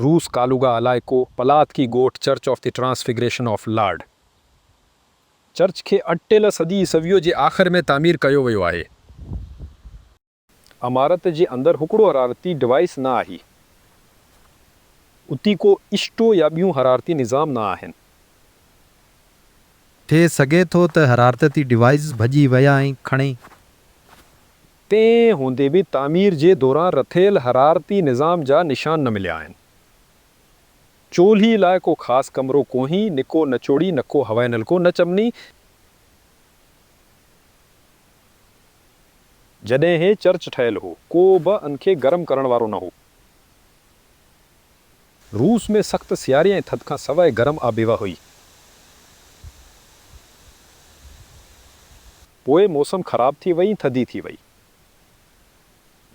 روس ڪالوگا علائقو، پلاتڪي ڳوٺ church of the transfiguration of lord church کي اڻٽيل صدي عيسويء جي آخر ۾ تعمير ڪيو ويو آهي. عمارت جي اندر هڪڙو حرارتي ڊوائيس نه آهي. اتي ڪو اسٽو يا ٻيون حرارتي نظام نه آهن. ٿي سگهي ٿو ته حرارتتي ڊوائيس ڀڄي ويا ۽ کڻي تنهن هوندي به تعمير جي دوران رٿيل حرارتي نظام جا نشان نه مليا آهن. چولهي لاء ڪو خاص ڪمرو ڪونهي، نڪو نچوڙي، نڪو هوائي نلڪو، نه چمني. جڏهن هي چرچ ٺهيل هو، ڪو به ان کي گرم ڪرڻ وارو نه هو. روس ۾ سخت سياري ۽ ٿڌ کان سواء گرم آبهوا هئي. پوء موسم خراب ٿي وئي ۽ ٿڌي ٿي وئي.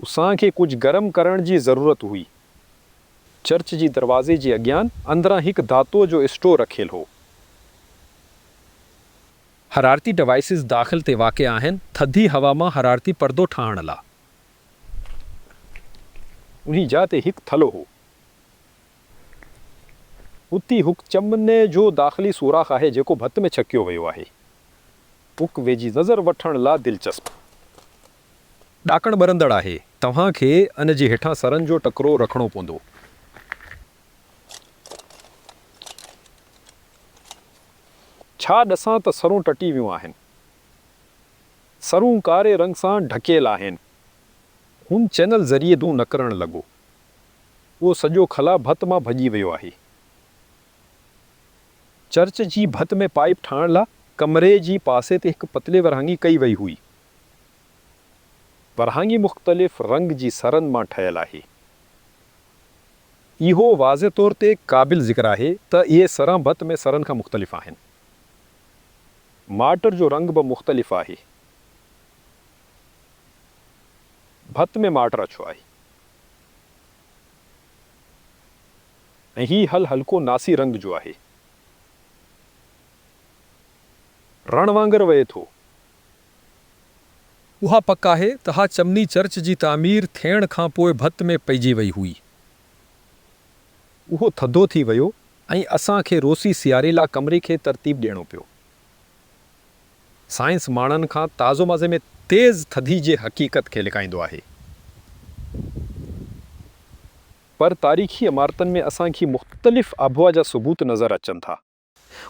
اسان کي ڪجهه گرم ڪرڻ جي ضرورت هئي. چرچ جي دروازي جي اڳيان اندران هڪ ڌاتوء جو اسٽو رکيل هو. حرارتي ڊوائسز داخل تي واقع آهن، ٿڌي هوا مان حرارتي پردو ٺاهڻ لا. انهي جاء تي هڪ ٿلهو هو. اتي هڪ چمني جو داخلي سوراخ آهي جيڪو ڀت ۾ ڇڪيو ويو آهي. پڪ ويجهي نظر وٺڻ لا دلچسپ. ڏاڪڻ ٻرندڙ آهي. توهان کي ان جي هيٺان سرن جو ٽڪرو رکڻو پوندو. ڇا ڏسان ته سرون ٽٽي ويون آهن. سرون ڪاري رنگ سان ڍڪيل آهن. هن چينل ذريعي دون نڪرڻ لڳو. اهو سڄو خلا ڀت مان ڀڄي ويو آهي. چرچ جي ڀت ۾ پائيپ ٺاهڻ لا ڪمري جي پاسي تي هڪ پتلي ورهاڱي ڪئي وئي هئي. ورهاڱي مختلف رنگ جي سرن مان ٺهيل آهي. اهو واضح طور تي قابل ذڪر آهي ته اهي سران ڀت ۾ سرن کان مختلف آهن. مارٽر جو رنگ به مختلف آهي. ڀت ۾ مارٽر اڇو آهي. ۽ هي هل هلڪو ناسي رنگ جو آهي. رڻ وانگر وهي ٿو. اها پڪ آهي ته اها چمني چرچ جي تعمير ٿيڻ کان پوء ڀت ۾ پئجي وئي هئي. اهو ٿڌو ٿي ويو ۽ اسان کي روسي سياري لا ڪمري کي ترتيب ڏيڻو پيو. سائنس ماڻهن کان تازو مزي ۾ تيز ٿڌي جي حقيقت کي لڪائيندو آهي. پر تاريخي عمارتن ۾ اسان کي مختلف آبھوا جا ثبوت نظر اچن ٿا.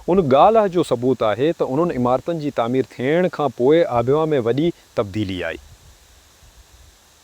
ان ڳالھه جو ثبوت آھي ته انھن عمارتن جي تعمير ٿيڻ کان پوء آبھوا ۾ وڏي تبديلي آئي.